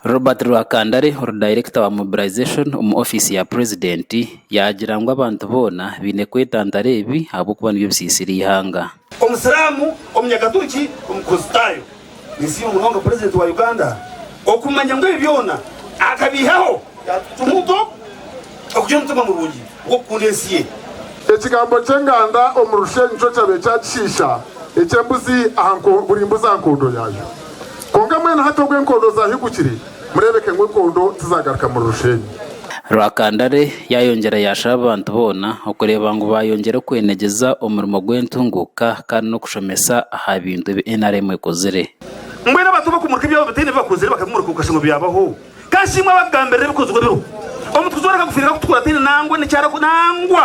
Robert Rwakandare ori dayirekita wa mobilization omu ofiisi ya purezidenti yaagira ngu abantu boona baine kwetantara ebi ahabw'okuba nibyo bisiisira eihanga. Omusiramu, Omunyakaturuki, Omukristaayo. Ninsiima munonga Purezidenti wa Uganda okumanya ngu ebi byona akabiihaho yatutumu nk'oku okugira omutima murungi gw'okukunda ensi ye. Ekigambo ky'enganda omu Rushenyi nikyo kyabaire kyakishiisha eky'embuzi aha buri mbuzi aha nkondo yaayo. Kwonka mbwenu hati obu enkondo zaahigukire, Mureebeke ngu enkondo tizagaruka muri Rusheenyi. Rwakandare yaayongyera yaashaba abantu boona okureeba ngu baayongyere kwenegyeza omurimo gw'entunguuka kandi n'okushomesa aha bintu ebi nrm ekozire. Mbwenu abantu abakumurika ebyabo bataine bi bakozire bakabimurika okashusha ngu byabaho. Ka nshimwe abakugambirira ebikozirwe biriho. Omutukuzi w'oreka kufiirira kutukura ataine nangwa n'eki arakora nangwa.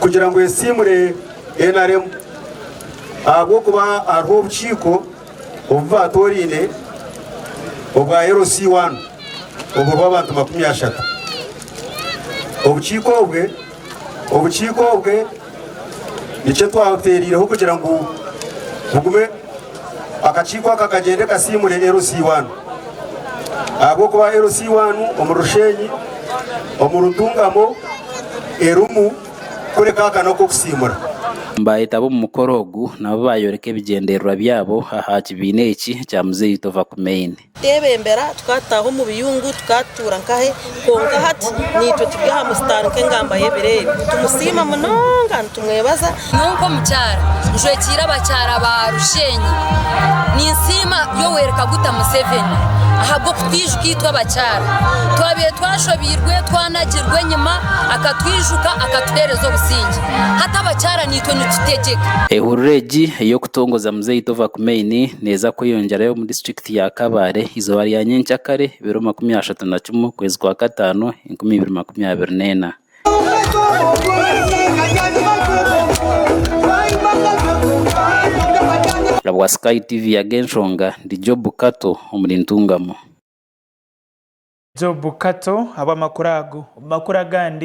kugira ngu esiimure NRM ahabw'okuba hariho obukiiko obu baatooraine obwa LC one oburiho abantu makumi ashatu. Obukiiko obwe obukiiko obwe nikyo twateereireho kugira ngu bugume Akakiiko aka kagyende kasiimure LC1 ahabw'okuba LC1 omuri Rusheenyi omuri Ntungamo erimu kureka aka n'ak'okusiimura. Baayetaba omu mukoro ogu nabo baayoreka ebigyendererwa byabo aha kibiina eki ekya Muzeeyi Tovakumaine. Twebembera, tukataaha omu biyungu, tukatuura nkahe, kwonka hati naitwe turi aha musitaani nk'engamba y'ebiro ebi. Nitumusiima munonga, nitumwebaza. Nyowe nk'omukyara njwekiire abakyara ba Rusheenyi, ninsiima Yoweri Kaguta Museveni ahabw'okutwijuka itwe abakyara. Twabaire twashobeirwe, twanagirwe enyima, akatwijuka, akatuheereza obusingye. Hati abakyara naitwe nitutegyeka. Ehurura egi ey'okutongoza Muzeeyi Tova Kumeini, neeza kweyongyerayo omu disiturikiti ya Kabale eizooba rya nyentsya kare biro makumi ashatu na kimwe okwezi kwa kataano enkumi ibiri makumi abiri neena. Bwa Sky TV Ag'enshonga ndi Job Kato omuri Ntungamo. Job Kato habw'amakuru ago. Omu makuru agandi.